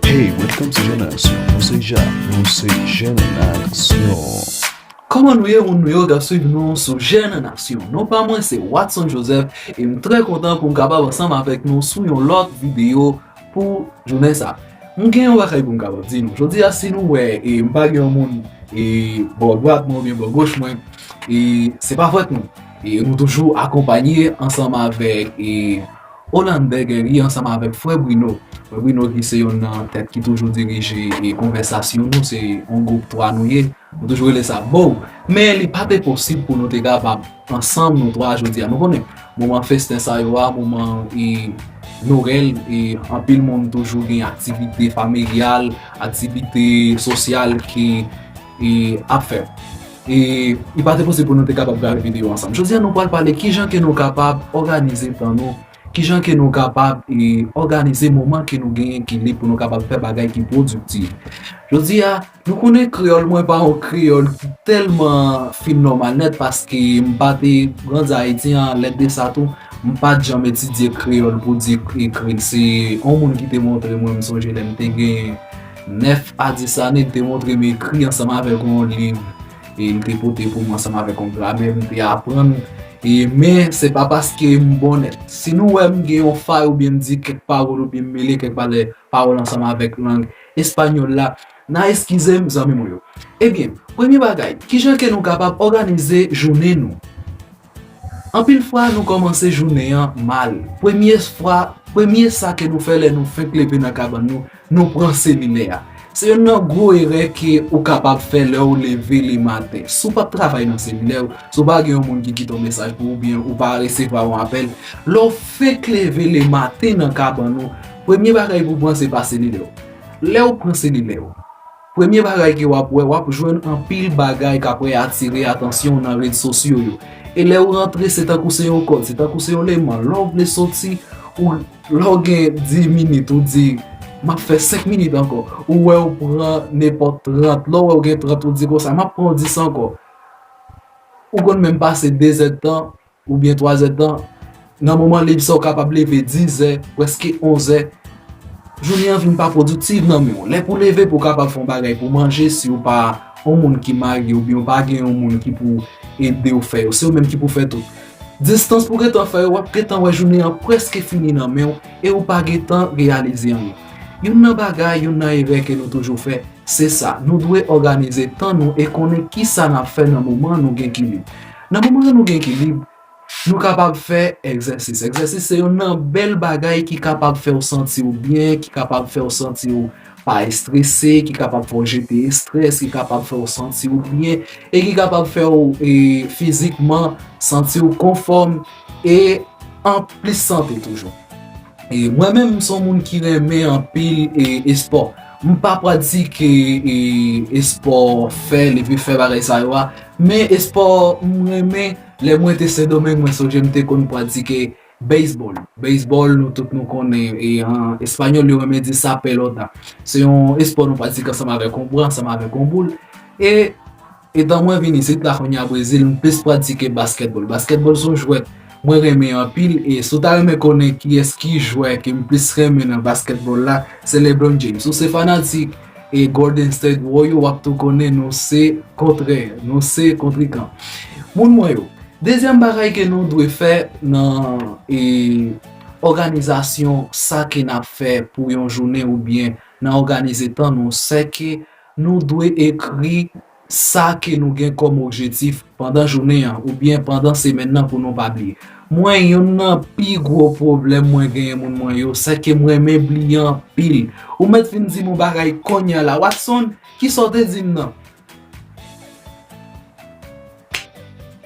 Hey, welcome to Jeune Action. Nou se ja, nou se Jeune Action. Koman nou ye moun nou yo kap swiv nou sou Jèn an Aksyon? Non pa mwen se Watson Joseph e m trè kontan pou m kapab ansanm avèk nou sou yon lòt videyo pou jounen sa. M gen yon bagay pou m kapab di nou. Jodi a si nou wè e m pa gen yon moun e bò dwat mwen oubyen bò goch mwen e se pa fòt nou. E nou toujou akonpanye ansanm avèk e Hollander gen li ansanm avèk frè Bruno. Frè Bruno ki se yonn nan tèt ki toujou dirije konvèsasyon nou, se yon gwoup 3 nou ye, nou toujou rele sa boww. Men li pa te posib pou nou te kapab ansanm nou 3 jodi a. Nou konnen, moman festen sa yo a, moman e Noel e anpil moun toujou gen aktivite familyal, aktivite sosyal ki. e ap fè e li pa te posib pou nou te kapab gade video ansanm jodi a nou pral pale kijan ke nou kapab òganize tan nou kijan ke nou kapab e òganize moman ke nou genyen ki lib pou nou kapab fè bagay ki pwodiktif jodi a nou konnen kreyòl mwen pa yon kreyòl ki tèlman fin nòmal nèt paske m pa te grandi ayiti an lè de sa tou m pa t janm etidye kreyòl pou di m ekri l se yon moun ki te montre mwen m sonje lè m te gen 9 a 10 ane, m te montre m ekri ansanm avèk yon liv e m te pote pou m ansanm avèk yon gramè m te aprann e men se pa paske m bon nèt. Si nou wè m gen yon fay oubyen m di kèk pawòl oubyen m mele kèk valè pawòl ansanm avèk lang espanyòl la, n a eskize m zanmi mwen yo. Ebyen, premye bagay, kijan ke nou kapab òganize jounen nou? Anpil fwa nou kòmanse jounen an mal. Premye fwa, premye sa ke nou fè lè nou fenk leve nan kabann nou, nou pran seminè a. Se yonn nan gwo erè ke ou kapab fè lè ou leve le maten. Si w pap travay nan seminè ou, si w pa gen yon moun ki kite yon mesaj pou ou oubyen ou pa resevwa yon apèl, lè w fenk leve le maten nan kabann ou, premye bagay pou w pran se pa selilè w. Lè ou pran selilè ou. Premye bagay ke wap wè, wap jwenn anpil bagay kapre atire atansyon w nan red sosyo yo. E lè ou rantre se tankou se yon kòd, se tankou se yon leman. Lè w vle soti, ou lè w gen 10 minit ou di map fè 5 minit ankò. Ou wè ou pran nenpòt 30, lè w wè ou gen 30 ou di konsa map pran 10 ankò. Ou konn menm pase 2 zèdtan. Oubyen twazèdtan, nan moman lib sa ou kapab leve dizè, prèske onzè. Jounen an vin pa pwodiktiv nan men ou. Lè pou leve pou kapab fè yon bagay pou manje si ou pa yon moun ki marye oubyen ou pa gen yon moun ki pou ede ou fè yo, se ou menm ki pou fè tout. Distans pou gentan fè yo, w ap gentan wè jounen an prèske fini nan men ou e ou pa gentan reyalize anyen. Youn nan bagay, youn nan erè ke nou toujou fè, se sa, nou dwe òganize tan nou e konnen kisa n ap fè nan moman nou gen ki lib. Nan moman ke nou gen ekilib, nou kapab fè egzèsis. Egzèsis se youn nan bèl bagay ki kapab fè ou santi ou byen, ki kapab fè ou santi ou pa estrese, ki kapab fè ou jete estrès, ki kapab fè ou santi ou byen, e ki kapab fè ou fizikman santi ou konfòm e an plis sante toujou. E mwen menm m son moun ki renmen anpil espò. M pa pratike espò, fè, leve fè bagay sa yo a. Men espò m renmen lè mwen te Sendomeng mwen sonje m te konn pratike Beisbòl. Beisbòl nou tout nou konnen e an espanyòl yo renmen di sa pelota. Se yon espò nou pratike ansanm avèk yon bra, ansanm avèk yon boul e etan mwen vin isit la kounye a Brezil m plis pratike baskètbòl. Baskètbòl se yon jwèt mwen renmen anpil e si w ta renmen konnen kiyès ki jwè ke m plis renmen nan baskètbòl la se Leblon James. Si w se fanatik. E Golden State Warrior wap tou konnen nou se kontrè, nou se kontrikan. Moun mwen yo, dezyèm bagay ke nou dwe fè nan e òganizasyon sa ke nap fè pou yon jounen oubyen nan òganize tan nou, sè ke nou dwe ekri Sa ke nou gen kòm objetif pandan jounen an oubyen pandan semèn nan pou nou pa bliye. Mwen youn nan pi gwo pwoblèm mwen genyen moun mwen yo, sè ke m renmen bliye anpil. Ou mèt vin di m yon bagay konnya la, Watson, kisa w te di m nan?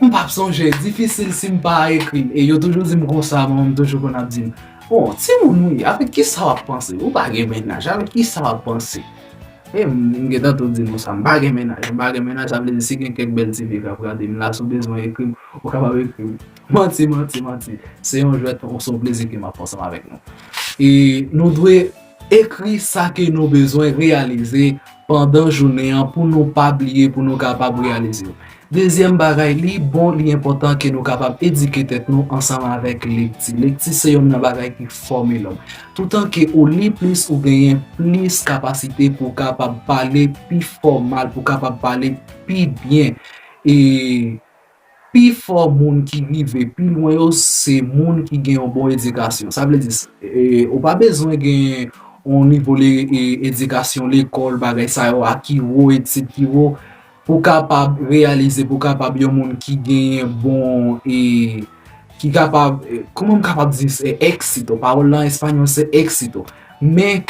M p ap sonje, difisil si m pa ekri l. E yo toujou di m konsa, manman m toujou konn ap di m, Bon, timoun ou ye, avèk kisa w ap panse? Ou pa gen mennaj, avèk kisa w ap panse? E m m gentan tou di nou sa, m pa gen mennaj. M pa gen mennaj, sa vle di si gen kèk bèl ti fi k ap gade m la, si w bezwen ekri m, ou kapab ekri m. Manti, manti, manti. Se yon jwèt, se yon plezi ke m ap pran ansanm avèk nou. E nou dwe ekri sa ke nou bezwen reyalize pandan jounen an pou nou pa bliye, pou nou kapab reyalize yo. Dezyèm bagay, li bon, li enpòtan ke nou kapab edike tèt nou ansanm avèk lekti. Lekti se yonn nan bagay ki fòme lòm. Toutan ke ou li plis, ou genyen plis kapasite pou w kapab pale pi fòmal, pou w kapab pale pi byen. E pi fò moun ki rive pi lwen yo, se moun ki gen yon bon edikasyon. Sa vle di, ou pa bezwen gen yon nivo edikasyon lekòl, bagay sa yo a ki wo, etid ki wo. Pou kapab reyalize, pou kapab yon moun ki genyen bon e, ki kapab, kouman m kapab di se exito, pawòl la an espanyòl se exito. Men,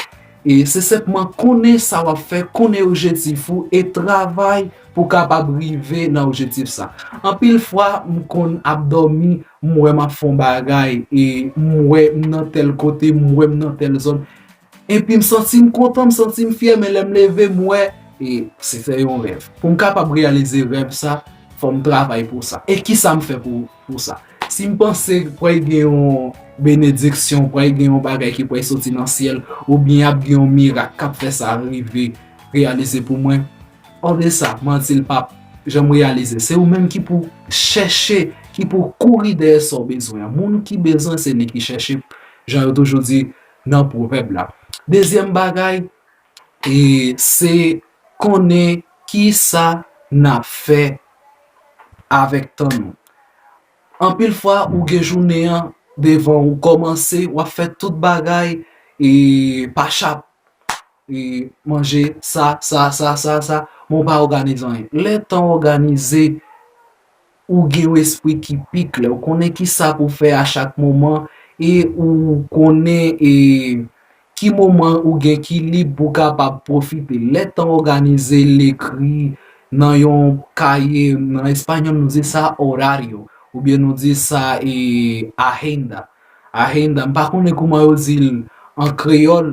e se senpman konnen sa w ap fè, konnen objetif ou e travay pou kapab rive nan objetif sa. Anpil fwa m konn ap dòmi, m wè m ap fè yon bagay e m wè m nan tèl kote, m wè m nan tèl zòn. Epi m santi m kontan, m santi m fyè men lè m leve m wè e se te yon rèv. Pou m kapab reyalize rèv sa, fò m travay pou sa. E kisa m fè pou sa? Si m panse pral gen yon benediksyon, pral gen yon bagay ki pral soti nan syèl oubyen ap gen yon mirak k ap fè sa rive reyalize pou mwen, olye sa, manti l pap janm reyalize. Se ou menm ki pou chèche, ki pou kouri dèyè sa w bezwen an. Moun ki bezwen se li ki chèche, jan yo toujou di, nan pwovèb la. Dezyèm bagay e se konnen ki sa n ap fè avèk tan nou. Anpil fwa ou gen jounen an devan w, ou kòmanse w ap fè tout bagay e pa chap e manje sa sa sa sa sa men w pa òganize anyen. Lè tan òganize. Ou gen yon espri ki pi klè, ou konnen ki sa pou fè a chak moman e ou konnen e ki moman ou gen ki lib pou kapab pwofite. Lè tan òganize l ekri nan yon kaye, nan espanyòl nou di sa horario oubyen nou di sa e agenda, agenda, m pa konnen kouman yo di l an kreyòl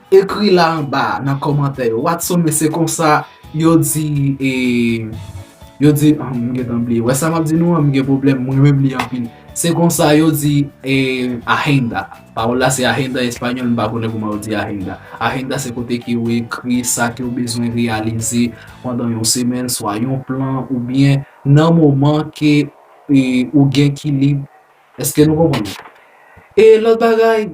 Ekri la anba nan kòmantè yo. Watson men se konsa yo di e yo di oh m gentan bliye wè sa map di nou an m gen pwoblèm m renmen m li anpil se konsa yo di e ahenda pawòl la se ahenda espanyòl m pa konnen kouman yo di ahenda ahenda se kote ke ou ekri sa ke ou bezwen reyalize pandan yon semèn swa yon plan ou byen nan moman ke e ou gen ki lib eske nou konprann e lòt bagay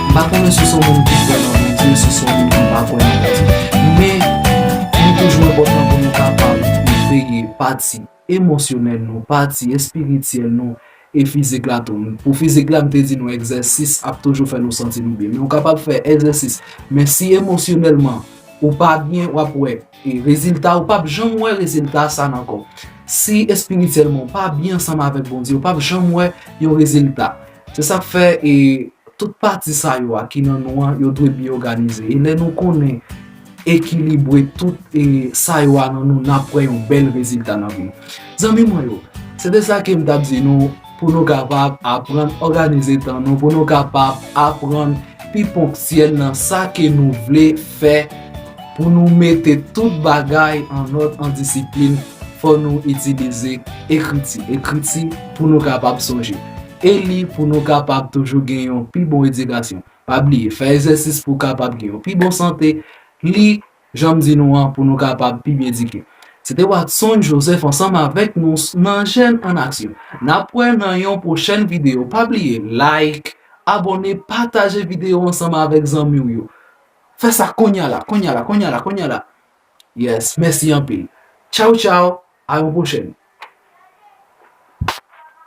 M pa konnen si w se yon moun ki kwè nan Bondye, si w se yon moun ki pa kwè nan Bondye. Men, nou toujou enpòtan pou nou kapab veye pati emosyonèl nou, pati espirityèl nou e fizik la tou. Pou fizik la, m te di nou egzèsis ap toujou fè nou santi nou byen. Men ou kapab fè egzèsis, men si emosyonèlman ou pa byen, w ap wè rezilta, ou pap janm wè rezilta sa nan kò w. Si espirityèlman ou pa byen ansanm avèk Bondye, ou pap janm wè yon rezilta. Se sa k fè e tout pati sa yo a ki nan nou an yo dwe byen òganize. E lè nou konnen ekilibwe tout e sa yo a nan nou n ap wè yon bèl rezilta nan vi. Zanmi mwen yo, se te sa ke m t ap di nou pou nou kapab aprann òganize tan nou pou nou kapab aprann pi ponktyèl nan sa ke nou vle fè Pou nou mete tout bagay an òd an disiplin, fò nou itilize ekriti. Ekriti pou nou kapab sonje. E li pou nou kapab toujou gen yon pi bon edikasyon. Pa bliye, fè egzèsis pou w kapab gen yon pi bon sante. Li, jan m di nou an, pou nou kapab pi byen edike. Se te Watson Joseph ansanm avèk nou nan Jèn an Aksyon. N ap wè nan yon pwochèn videyo. Pa bliye like, abòne, pataje videyo ansanm avèk zanmi w yo. Fè sa konya la konya la konya la konya la yes mèsi anpil tchawtchaw a yon pwochèn.